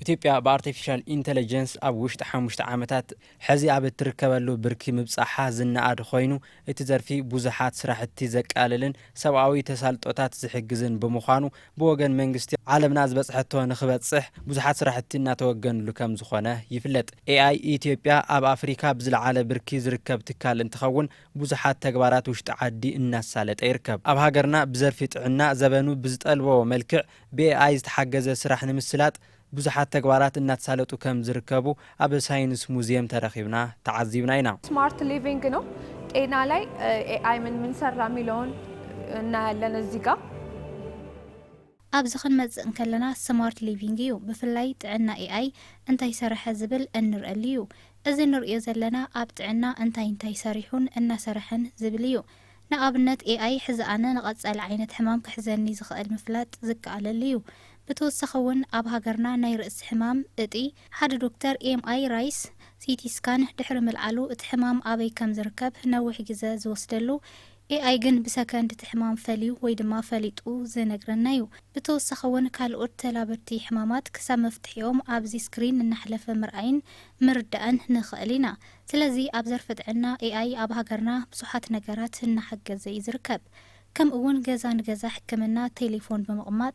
ኢትዮጵያ ብኣርቲፊሻል ኢንተለጀንስ ኣብ ውሽጢ ሓሙሽተ ዓመታት ሕዚ ኣብ እትርከበሉ ብርኪ ምብፃሓ ዝነኣድ ኾይኑ እቲ ዘርፊ ብዙሓት ስራሕቲ ዘቃልልን ሰብኣዊ ተሳልጦታት ዝሕግዝን ብምዃኑ ብወገን መንግስቲ ዓለምና ዝበፅሐቶ ንክበፅሕ ብዙሓት ስራሕቲ እናተወገንሉ ከምዝኾነ ይፍለጥ። ኤኣይ ኢትዮጵያ ኣብ ኣፍሪካ ብዝለዓለ ብርኪ ዝርከብ ትካል እንትኸውን ብዙሓት ተግባራት ውሽጢ ዓዲ እናሳለጠ ይርከብ። ኣብ ሃገርና ብዘርፊ ጥዕና ዘበኑ ብዝጠልቦ መልክዕ ብኤኣይ ዝተሓገዘ ስራሕ ንምስላጥ ብዙሓት ተግባራት እናተሳለጡ ከምዝርከቡ ኣብ ሳይንስ ሙዝየም ተረኺብና ተዓዚብና ኢና። ስማርት ሊቪንግ ነው ጤና ላይ ኤኣይ ምን ምን ሰራ ሚለውን እናያለን እዚጋ። ኣብዚ ክንመጽእ እንከለና ስማርት ሊቪንግ እዩ ብፍላይ ጥዕና ኤኣይ እንታይ ሰረሐ ዝብል እንርኣሉ እዩ። እዚ ንርእዮ ዘለና ኣብ ጥዕና እንታይ እንታይ ሰሪሑን እናሰረሐን ዝብል እዩ። ንኣብነት ኤኣይ ሕዚ ኣነ ንቐጻሊ ዓይነት ሕማም ክሕዘኒ ዝኸእል ምፍላጥ ዝከኣለሉ እዩ። ብተወሳኺ እውን ኣብ ሃገርና ናይ ርእሲ ሕማም እጢ፣ ሓደ ዶክተር ኤምኣይ ራይስ ሲቲ ስካን ድሕሪ ምልዓሉ እቲ ሕማም ኣበይ ከም ዝርከብ ነዊሕ ግዘ ዝወስደሉ AI ግን ብሰከንድ እቲ ሕማም ፈልዩ ወይ ድማ ፈሊጡ ዝነግረና እዩ። ብተወሳኺ ውን ካልኦት ተላበድቲ ሕማማት ክሳብ መፍትሒኦም ኣብዚ ስክሪን እናሕለፈ ምርኣይን ምርዳእን ንኽእል ኢና። ስለዚ ኣብ ዘርፊ ጥዕና AI ኣብ ሃገርና ብዙሓት ነገራት እናሓገዘ እዩ ዝርከብ። ከምኡ ውን ገዛ ንገዛ ሕክምና ቴሌፎን ብምቕማጥ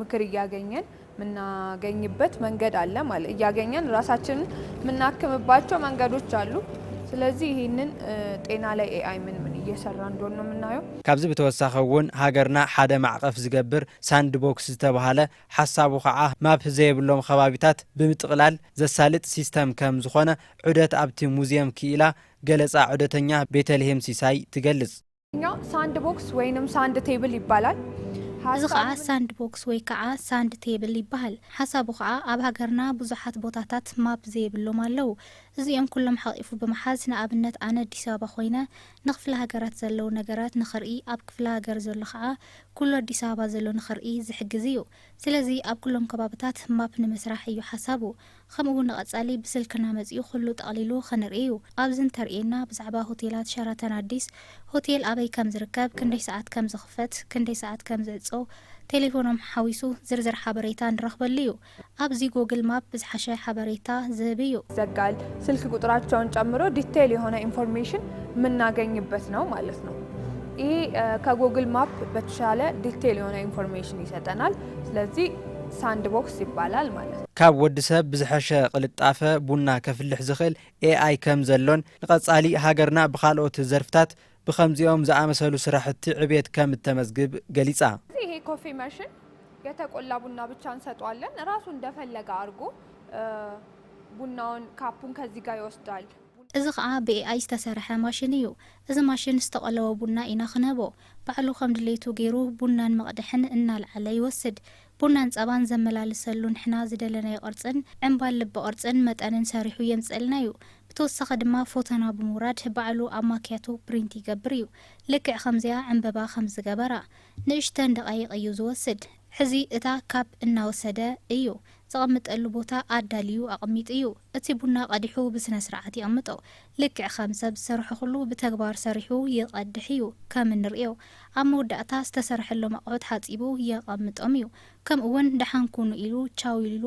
ምክር እያገኘን የምናገኝበት መንገድ አለ ማለት እያገኘን ራሳችንን የምናክምባቸው መንገዶች አሉ። ስለዚህ ይህንን ጤና ላይ ኤአይ ምን ምን እየሰራ እንደሆን ነው የምናየው። ካብዚ ብተወሳኺ እውን ሃገርና ሓደ ማዕቐፍ ዝገብር ሳንድ ቦክስ ዝተብሃለ ሓሳቡ ከዓ ማፕ ዘየብሎም ኸባቢታት ብምጥቕላል ዘሳልጥ ሲስተም ከም ዝኾነ ዑደት ኣብቲ ሙዝየም ክኢላ ገለፃ ዑደተኛ ቤተልሄም ሲሳይ ትገልፅ። ብእንግሊዝኛ ሳንድቦክስ ወይንም ሳንድ ቴብል ይባላል። እዚ ኸኣ ሓሳቡ ሳንድ ቦክስ ወይ ከኣ ሳንድ ቴብል ይበሃል። ሓሳቡ ኸኣ ኣብ ሃገርና ብዙሓት ቦታታት ማፕ ዘይብሎም ኣለዉ። እዚኦም ኩሎም ሓቒፉ ብምሓዝ ንኣብነት ኣነ ኣዲስ ኣበባ ኮይነ ንክፍለ ሃገራት ዘለዉ ነገራት ንኽርኢ ኣብ ክፍለ ሃገር ዘሎ ኸኣ ኩሉ ኣዲስ ኣበባ ዘሎ ንኽርኢ ዝሕግዝ እዩ። ስለዚ ኣብ ኩሎም ከባብታት ማፕ ንምስራሕ እዩ ሓሳቡ። ከምኡ ውን ንቀጻሊ ብስልክና መጺኡ ኩሉ ጠቅሊሉ ክንርኢ ዩ። ኣብዚ እንተርእየና ብዛዕባ ሆቴላት ሸራተን ኣዲስ ሆቴል ኣበይ ከም ዝርከብ ክንደይ ሰዓት ከም ዝኽፈት ክንደይ ሰዓት ከም ዝዕጾ ቴሌፎኖም ሓዊሱ ዝርዝር ሓበሬታ ንረኽበሉ ዩ። ኣብዚ ጎግል ማፕ ብዝሓሸ ሓበሬታ ዝህብ ዩ። ዘጋል ስልክ ቁጥራቸውን ጨምሮ ዲቴይል የሆነ ኢንፎርሜሽን ምናገኝበት ነው ማለት ነው። ይህ ከጎግል ማፕ በተሻለ ዲቴይል የሆነ ኢንፎርሜሽን ይሰጠናል። ስለዚ ሳንድ ቦክስ ይባላል ማለት እዩ። ካብ ወዲ ሰብ ብዝሐሸ ቕልጣፈ ቡና ከፍልሕ ዝኽእል AI ከም ዘሎን ንቐፃሊ ሃገርና ብኻልኦት ዘርፍታት ብኸምዚኦም ዝኣመሰሉ ስራሕቲ ዕብየት ከም እተመዝግብ ገሊፃ። ስለዚ ይሄ ኮፊ መሽን የተቆላ ቡና ብቻ እንሰጠዋለን እራሱ እንደፈለገ ኣርጎ ቡናውን ካፑን ከዚ ጋር ይወስዳል። እዚ ኸዓ ብኤኣይ ዝተሰርሐ ማሽን እዩ። እዚ ማሽን ዝተቆለወ ቡና ኢና ክነህቦ። ባዕሉ ከም ድሌቱ ገይሩ ቡናን መቕድሕን እናልዓለ ይወስድ። ቡናን ጸባን ዘመላልሰሉ ንሕና ዝደለናዮ ቅርጽን ዕምባል ልቢ ቅርጽን መጠንን ሰሪሑ የምጽእልና እዩ። ብተወሳኺ ድማ ፎተና ብምውራድ ባዕሉ ኣብ ማክያቶ ፕሪንት ይገብር እዩ። ልክዕ ከምዚኣ ዕምበባ ከም ዝገበራ። ንእሽተን ደቓይቕ እዩ ዝወስድ። ሕዚ እታ ካፕ እናወሰደ እዩ ዘቐምጠሉ ቦታ ኣዳልዩ ኣቐሚጡ እዩ። እቲ ቡና ቀዲሑ ብስነስርዓት የቕምጦ። ልክዕ ከም ሰብ ዝሰርሖ ኩሉ ብተግባር ሰሪሑ ይቐድሕ እዩ። ከም እንርእዮ ኣብ መወዳእታ ዝተሰርሐሎም ኣቑሑት ሓጺቡ የቐምጦም እዩ። ከምኡ'ውን ደሓን ኩኑ ኢሉ ቻው ኢሉሉ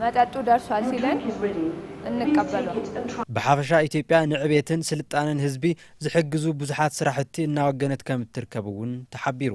መጠጡ ደርሷል ሲለን እንቀበሎ። ብሓፈሻ ኢትዮጵያ ንዕቤትን ስልጣነን ህዝቢ ዝሕግዙ ብዙሓት ስራሕቲ እናወገነት ከምትርከብ እውን ተሓቢሩ።